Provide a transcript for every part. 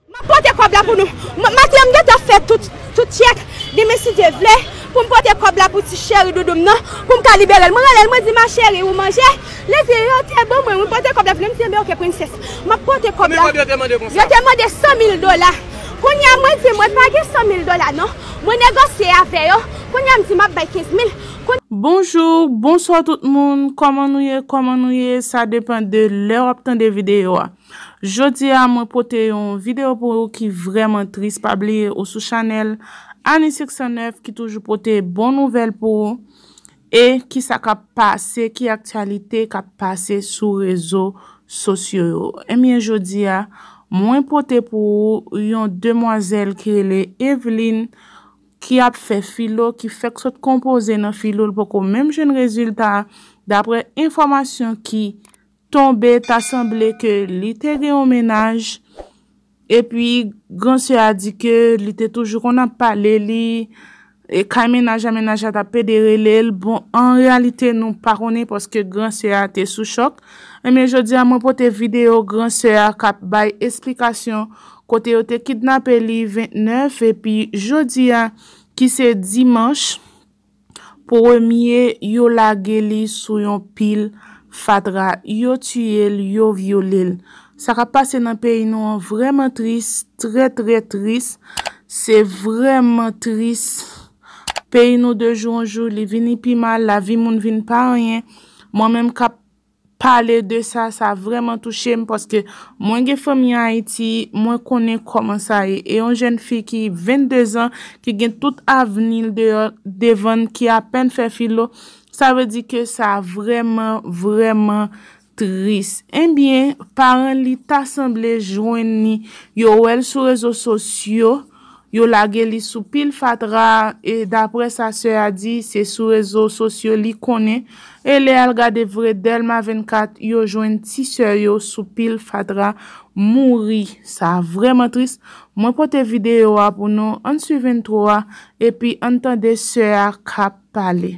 Map pote kob la pou nou. Maten m gentan fè tout tyèk demen si Dye vle poum pote kob la pou ti cheri doudou m nan poum ka liberel mwen relel mwen di ma cheri ou manje li di yo te ban mwen wi pote kob la pou li m di enben ok princesse map pote kob la yo te mande 100 mil dola kounya mwen di mwen pa gen 100 mil dola non mwen negosye avè yo kounya m di map bay 15 mil kounya. Bonjour bonsoir tout moun koman nou ye koman nou ye sa depan de lè wap tande vidéo a. Jodia mwen pote yon video pou ou ki vreman tris pa bliye ou sou chanel Annie 609 ki toujou pote bon nouvel pou ou e kisa kap pase ki aktyalite kap pase sou rezo sosyo yo ebyen jodia mwen pote pou ou yon demwazel ki rele Evelyne ki ap fè filo ki fèk sot konpoze nan filo li poko menm jwenn rezilta dapre enfomasyon ki tonbe ta sanble ke li te gen yon mennaj epi gran sè a di ke li te toujou konn ap pale li e kay mennaj la mennaj la ta pede rele l bon an reyalite nou pa konnen paske gran sè a te sou chòk enben jodi a mwen pote videyo gran sè a kap bay esplikasyon kote yo te kidnape li 29 epi jodi a ki se dimanch. Premye yo lage li sou yon pil fatra, yo tiye l, yo vyole l. Sa k ap pase nan peyi nou an vrèman tris, trè trè tris. Se vrèman tris. Peyi nou de jou an jou li vini pi mal, lavi moun vin pa anyen. Mwen menm k ap pale de sa, sa vrèman touche m paske mwen gen fanmi Ayiti, mwen konnen kòman sa ye. E yon jèn fi ki 22 zan, ki gen tout avni l deyò, devan l, ki apèn fè filo, sa vle di ke sa vrèman, vrèman tris. Enbyen, paran li ta sanble jwenn li, yo wè l sou rezo sosyo. Yo lage li sou pil fatra e daprè sa sè a di, se sou rezo sosyo li konnen e lè al gade vre Dèlma 24 yo jwenn ti sè yo sou pil fatra mouri. Sa vrèman tris. Mwen pote videyo a pou nou. Ann swiv entwo a epi ann tande sè a k ap pale.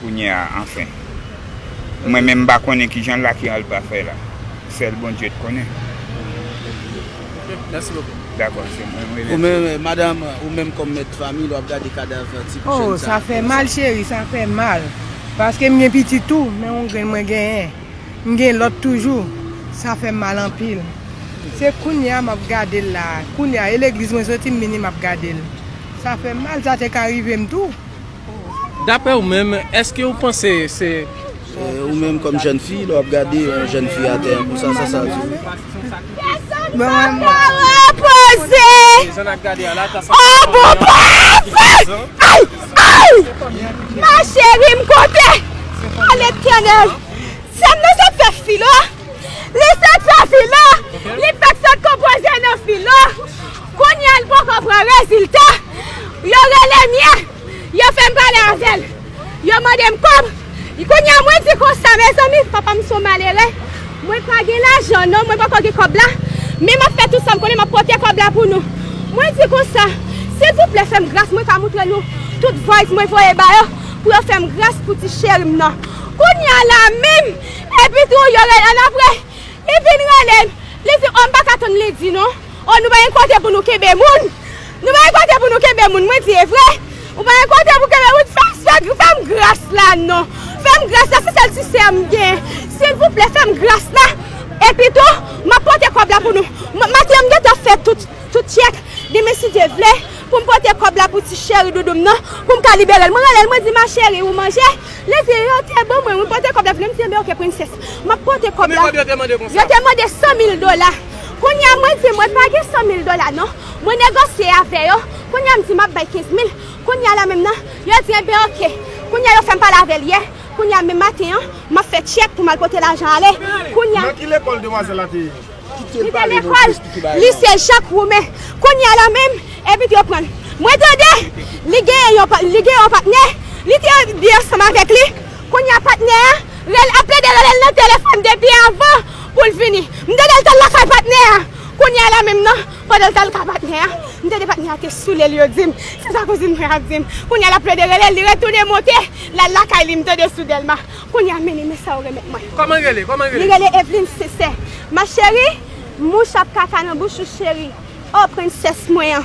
Kounyea anfen. Mwen menm mpa konnen kijan Lucky al pa fè la. Sèl Bondye t konnen. Ok merci beaucoup. Dakò se mwen m rele. Oumenm madam ou menm kòm mèt fanmiy lè wap gade kadav ti jèn sa a Oh sa fè mal cheri sa fè mal paske m gen pitit tou men on grenn mwen genyen m gen lòt toujou sa fèm mal anpil se kounye a map gadel la kounye a e legliz mwen soti m vini map gadel sa fèm mal sa te ka rivem tou. Daprè ou menm, èske ou panse se. Ou menm kòm jèn fi, lè w ap gade yon jèn fi atè an konsa, sa sa di ou? Mwen wè mwen pa repoze! O bon pafè! Ay! Ay! Ma cheri m kote? O letènèl! Sè m nan sot fè filo, li sot fè filo, li fèk sot konpoze nan filo. Kounye a l poko pran rezilta, yo rele m ye, yo fè m pale avè l, yo mande m kòb. Kounye a mwen di konsa, mezanmi, papa m se yon malere, mwen pa gen lajan non, mwen poko gen kòb la, men m ap fè tout sa m konnen, m ap pote kòb la pou nou. Mwen di konsa, silvouplè fè m gras, mwen ka montre nou tout vòys mwen voye ba yo pou yo fè m gras pou ti cheri m nan. Kounye a la menm, epitou yo rele, annapre, li vin rele m, li di m, o m pa ka tann li di non. Oh nou pa gen kote pou nou kenbe moun nou pa gen kote pou nou kenbe moun mwen di evre ou pa gen kote pou kenbe moun fèm fèm gras la non fèm gras la se sèl ti sèm gen silvouplè fèm gras la epi tou map pote kòb la pou nou maten mgen ta fè tout tout tyèk demen si Dye vle poum pote kòb la pou ti cheri doudoum nan poum ka liberel mwen relel mwen di ma cheri ou manje li di yo te ban mwen wi pote kòb la pou nou mdi ok princesse map pote kòb la yo te mande 100 mil dola Kounye a mwen di mwen pa gen 100 mil dola non. Mwen negosye avè yo, kounye a m di m ap bay 15 mil, kounye a la menm nan, yo di enben ok. Kounye a yo fè m pale avè l yè, kounye a menm maten an, m ap fè tchèk pou m al pote lajan ale, kounye a. Nan ki lekòl demwazèl la te ye? Li te lekòl Lise Jak Woumen. Kounye a la menm, epi yo pran l. Mwen tande li gen yon patnè, li te byen ansanm avèk li, Kounya patnè a rele ap plede relel nan telefòn depi avan poul vini m tande l tal lakay patnè a kounya la menm nan pandan l tal kay patnè a m tande patnè a te soulel yo dim se sa kouzin mwen ap dim kounya lap plede relel li retounen monte lal lakay li m tande sou Dèlma kounya mini men sa ou remet mwen li rele Evelyne sensè ma chérie mouche ap kaka nan bouch ou chérie oh princesse mwen an.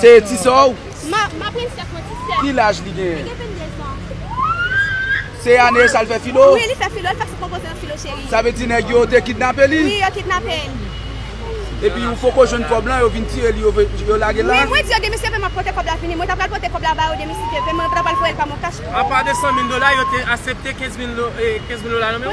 Se ti sè w? Ki laj li genyen? Se ane sa l fè filo? Sa vle di nèg yo te kidnape li? Epi ou poko jwenn kòb lan yo vin tire li yo lage l la? Apa de 100 mil dola yo te asepte 15 mil dola nan men w?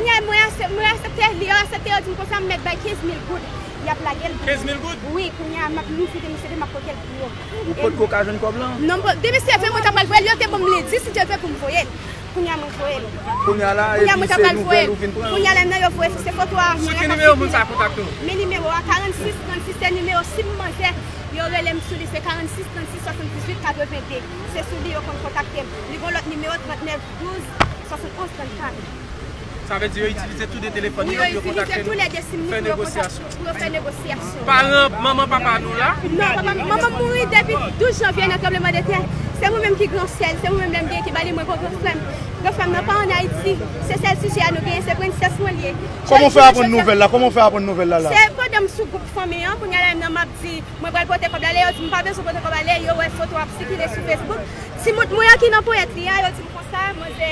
Yap lagel pou mwen. 15 mil goud? Wi, kounya a map louvri de mesye 2 map potel pou yo. Ou pot ko ka jwenn kob lan? Non m pot, de mesye 20 mwen ta pral voyel, yo te banm lendi si Dye vle poum voyel. Kounya mwen voyel. Kounya la Kounya mwen epi ta se pral nouvel voyel. ou vin pran? Kounya la nan yo voye se foto a anvan Sou la ki kap nimewo moun sa a sikile. kontakte w? Men nimewo a 46 36 se nimewo sim manzè yo relem sou li se 46 36 78 82 se sou li yo konn kontaktem li gon lòt nimewo 39 12 71 34. Sa vle di yo itilize tou 2 telefòn yo pou yo kontakte nou pou yo fè negosyasyon. Paran manman papa nou la? Non, papa m, manman m mouri depi 12 janvye nan tranbleman de tè. Se mwen menm ki gran sè l, se mwen menm lè m gen ki ba li mwen kon gran frè m. Gran frè m nan pa an Ayiti. Se sèl sijè a nou genyen, se prensès mwen li ye. Kòman w fè aprann nouvèl la? Kòman w fè aprann nouvèl la la? Se pandan m sou gwoup fanmi an, kounye a la menm nan m ap di mwen pral pote kòb la, lè yo di m pa bezwen pote kòb ale, yo wè foto a ap sikile sou Facebook. Timoun mwen an ki nan ponyèt li a, yo di m konsa, manzè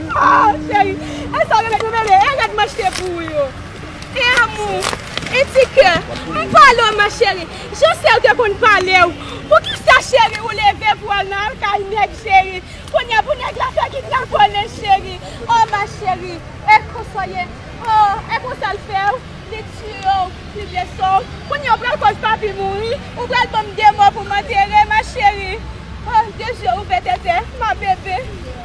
Aww cheri e sa ou remet mwen mele e rad m achte pou ou yo e amou e ti kè m pale w ma cheri jan sè ou te konn pale w poukisa cheri ou leve pou al nan kay nèg cheri kounye a pou nèg la fè ki kraponnen cheri oh ma cheri e konsa w ye oh e konsa l fè w li tiye w li blese w kounye a ou pral koz papi mouri ou pral ban m de mò pou m antere ma cheri oh de je ouvè tètè ma bebe.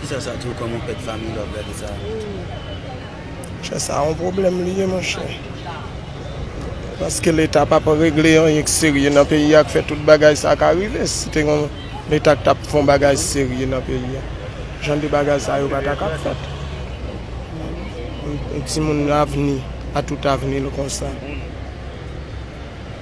Kisa sa diw kòman ou pèd fanmiy lè wap gade sa. Monchè sa yon pwoblèm li ye monchè paske leta pa pa regle anyen k serye nan peyi a k fè tout bagay sa ka rive si te gen yon leta k tap fon bagay serye nan peyi a jan de bagay sa yo pa ta ka fèt yon timoun avni a tout avni l konsa.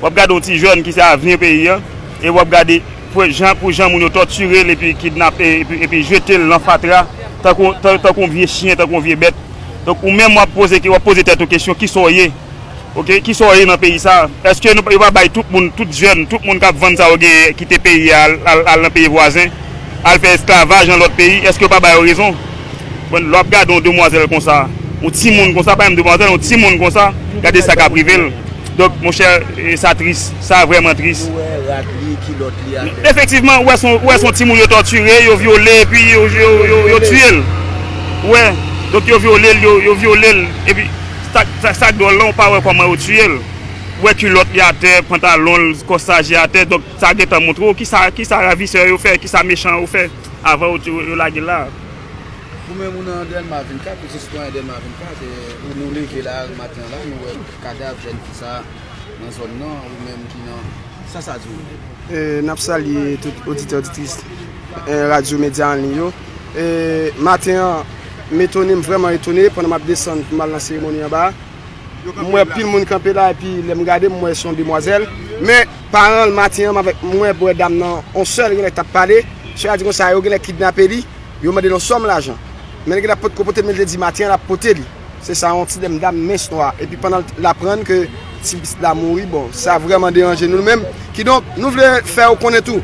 W ap gade yon ti jèn ki se avni peyi an, e w ap gade pou jan moun yo tòtire l epi kidnap epi jete l nan fatra tankou yon vye chyen, tankou yon vye bèt. Donk ou menm w ap poze w ap poze tèt ou kesyon ki sa w ye? Ok, ki sa w ye nan peyi sa a? Eske yo pa bay tout moun, tout jèn, tout moun k ap vann sa yo genyen kite peyi a al nan peyi vwazen, al fè esklavaj nan lòt peyi? Eske yo pa ba yo rezon? Bon, lè w ap gade yon demwazèl konsa, yon timoun konsa, pa menm demwazèl, yon timoun konsa, gade sa k ap rive l. Dok monchè sa tris, sa vrèman tris. Ou wè rad li, kilòt li atè. Efektivman, ou wè son timoun yo tòtire, yo vyole epi yo tiye l. Ou wè, dok yo vyole l, yo vyole l epi sa k dwòl la ou pa wè kòman yo tiye l. Ou wè kilòt li atè, pantalon l, kòsaj li atè, dok sa gen tan montre w kisa ravisè yo fè, kisa mechan yo fè avan yo lage l la a. Ou menm ou nan Dèlma 24, ou se sitwayen Dèlma 24, ou nou leve la maten an la, nou wè. Kadav jèn fi sa nan zòn nan ou menm ki nan sa sa di ou? N ap salye tout oditè oditris radyo medya an liy yo Maten an m etone m vrèman etone pandan m ap desann pou m al nan seremoni anba a m wè anpil moun kanpe la epi lè m gade m wè se yon demwazèl men paran l maten an m avèk m wè m wè dam nan yon sè l genlè t ap pale sè a di konsa yo genlè kidnape li yo mande l yon sòm lajan men li genlè potko pote l men li te di maten an l ap pote li. Se sa yon ti dèm dam mens nwa epi pandan l aprann ke ti pitit la mouri bon sa vrèman deranje nou menm kidonk nou vle fè ou konnen tou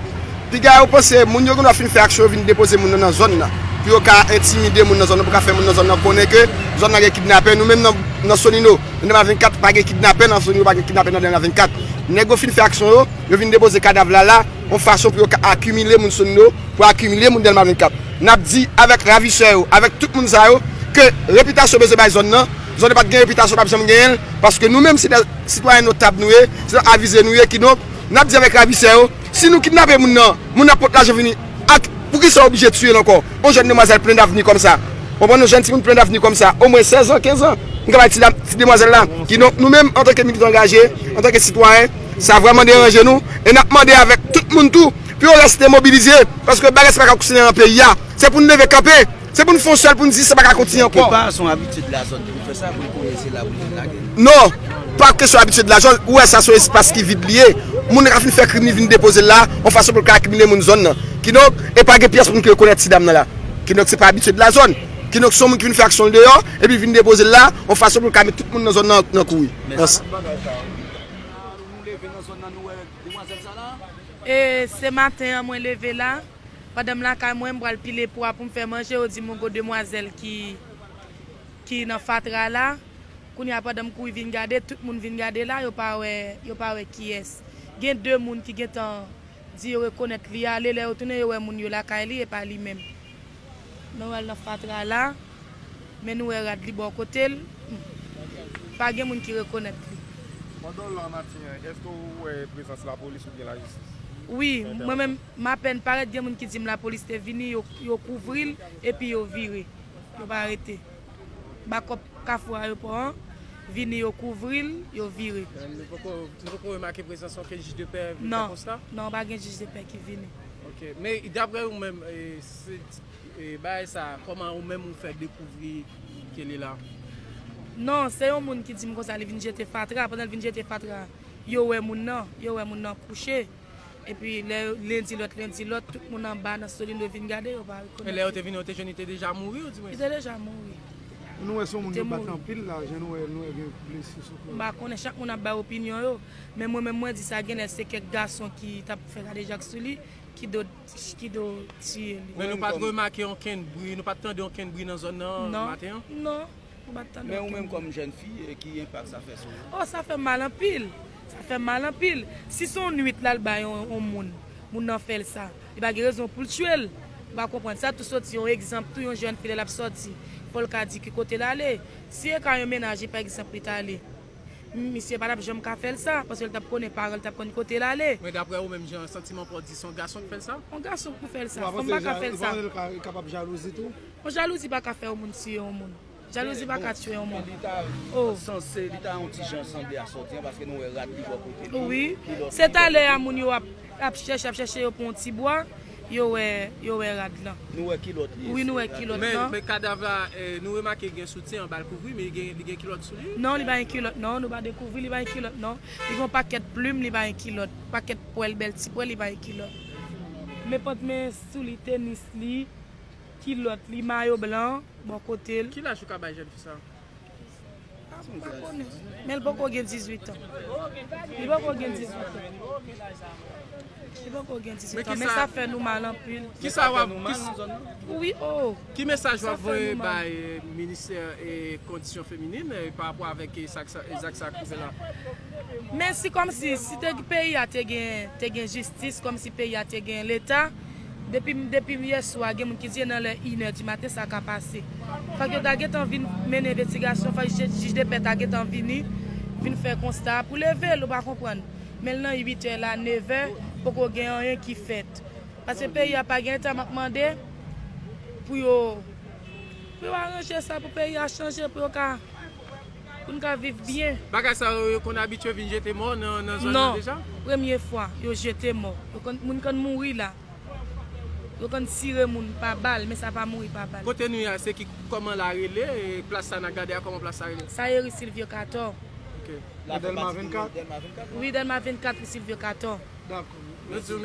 piga yo panse moun yo gendwa fin fè aksyon yo vin depoze moun nan nan zòn nan pou yo ka entimide moun nan zòn nan pou ka fè moun nan zòn nan konnen ke zòn nan gen kidnapè nou menm nan solino nan dèlma 24 pa gen kidnapè nan solino pa gen kidnapè nan dèlma 24 nèg yo fin fè aksyon yo yo vin depoze kadav la la yon fason pou yo ka akimile moun solino pou akimile moun dèlma 24. N ap di avèk ravisè yo, avèk tout moun sa yo, ke repitasyon bezwen bay zòn nan, zòn nan pa t gen repitasyon, pa p janm genyen l, paske nou menm se dè sitwayen notab nou ye, se dè avize nou ye, kidonk, n ap di avèk ravisè yo, si nou kidnape moun nan, moun nan pot lajan vini ak, poukisa ou oblije tiye l ankò? On jèn demwazèl plen davni kòm sa, w konprann, on jèn timoun plen davni kòm sa, omwen sèz an, kenz an, nou ka bay ti dam, ti demwazèl la, kidonk, nou menm, antanke militan angaje, antanke sitwayen, sa vrèman deranje nou, e n ap mande avèk tout moun tou, Pou yo reste mobilize paske bagay sa pa ka kontine nan peyi a se pou nou leve kanpe se pou nou fon sel pou nou di sa pa ka kontinye anko. Kèlke pa son abitid lazòd pou l fè sa pou l konnen se la pou l vin lage l. Non, pa kesyon abitid lazòd, ou wè sa son espas ki vid li ye, moun nan ka fin fè krim li vin depoze l la yon fason pou l ka akimile moun zòn nan. Kidonk, e pa gen pyès moun ki rekonèt ti dam nan la. Kidonk se pa abitid lazòd. Kidonk son moun ki vin fè aksyon l deyò epi l vin depoze l la yon fason pou l ka met tout moun nan zòn nan nan kouri. Mèsi. Demwazel sa la. E se maten an mwen leve la, pandan m lakay mwen m pral pile pwa pou m fè manje yo di m gongo demwazèl ki ki nan fatra la, kounye a pandan m kouri vin gade tout moun vin gade la yo pa wè yo pa wè kiyès. Gen 2 moun ki gentan di yo rekonèt li ale lè yo tounen yo wè moun yo lakay li e pa li menm. Noël nan fatra la men nou wè rad li bò kote l pa gen moun ki rekonèt li. Pandan w la maten an eske w wè prezans lapolis oubyen lajistis? Wi mwen menm m apèn parèt gen moun ki di m lapolis te vini yo kouvri l epi yo vire yo pa rete bakòp kafou ayopò an vini yo kouvri l yo vire. Nou poko remake prezans okenn jij de pè vin fè konsta? Non non pa gen jij de pè ki vini. Ok men daprè ou menm bagay sa koman ou menm ou fè dekouvri Kelly la? Non se yon moun ki dim konsa li vin jete fatra pandan li vin jete fatra yo wè moun nan yo wè moun nan kouche epi lè len di lòt len di lòt tout moun anba nan solindo vin gade yo pa rekonèt li. Men lè yo te vini yo te jwenn li te deja mouri ou di mwen? Li te deja mouri. Nou wè se yon moun yo bat anpil la jan nou wè nou wè gen blese sou kò l. M pa konnen chak moun ap bay opinyon yo. Men mwen menm mwen di sa genlè se kèk gason ki tap fè kadejak sou li ki do ki do tiye li. Men nou pat remake onkenn bri, nou pat tande onkenn bri nan zòn nan maten an? Non, non, nou pat tande onkenn bri. Men ou menm kòm jèn fi, ki enpak sa fè sou ou? Oh sa fèm mal anpil, sa fèm mal anpil. Si son nwit lal bay on moun, moun nan fèl sa, li pa gen rezon poul tiyel. Ou pa konprann. Sa tou soti yon egzanp tou yon jèn fi lè lap sòti, fòl ka di ki kotel ale. Si e ka yon mennaj li pa egzanp li tale. Misye pa tap janm ka fèl sa, paskel tap konnen paranl tap konn kotel ale. Men daprè ou menm jan santimanw pa w di se yon gason ki fèl sa? Yon gason ki pou fèl sa, fanm pa ka fèl sa. Ou pa panse li kapab jalouzi tou? Bon jalouzi pa ka fè yon moun tiye yon moun. Jalouzi pa ka tiye yon moun. Li ta sanse, li ta yon ti jan sanble a sòti an paske nou wè rad ki bò kote li. Wi, se talè a moun yo ap chèche, ap chèche yo pou yon ti bwa. Yo wè, yo wè rad lan. Nou wè kilòt li. Wi nou wè kilòt lan. Men, men kadav la, nou remake gen soutyen anba l kouvri, men li gen kilòt sou li? Non, li pa gen kilòt non, nou pa dekouvri li pa gen kilòt non. Li gen yon pakèt plim, li pa gen kilòt. Pakèt pwèl, bèl ti pwèl, li pa gen kilòt. Men pant men sou li, tenis li, kilòt li, mayo blan, bò kote l. Ki laj ou ka bay jèn fi sa? Ou pa konnen. Men l poko gen 18 an. Li poko gen 18 an. Li poko gen 18 an. Men sa fè nou mal anpil. Ki sa wap nou mal nan zòn nan? Wi o. Ki mesaj wap voye bay ministè kondisyon feminin pa rapò avèk zak sa k rive la? Men si kòmsi si peyi a te gen jistis, kòmsi peyi a te gen leta. Depim depim yèswa gen moun ki di e nan lè inè di maten sa ka pase. Fòk yo ta gentan vin mennen envestigasyon fòk jij de pè ta gentan vini vin fè konsta a pou level ou pa konprann. Menl nan 8 è la 9 è poko gen anyen ki fèt. Pase peyi a pa gen eta map mande pou yo pou yo aranje sa pou peyi a chanje pou yo ka. pou n ka viv byen. Bagay sa yo, yo konn abitye vin jete mò nan zòn nan deja? Non, premye fwa yo jete mò. Moun konn mouri la. Yo konn tire moun pa bal, men sa pa mouri pa bal. Kote nou ye a, se ki kòman la rele? Plas sa nan gade a, kòman plas sa rele? Sa ye ri Silvyo Katò. Ok. Nan Dèlma 24? Wi, Dèlma 24, ri Silvyo Katò. Dakò. Mèsi.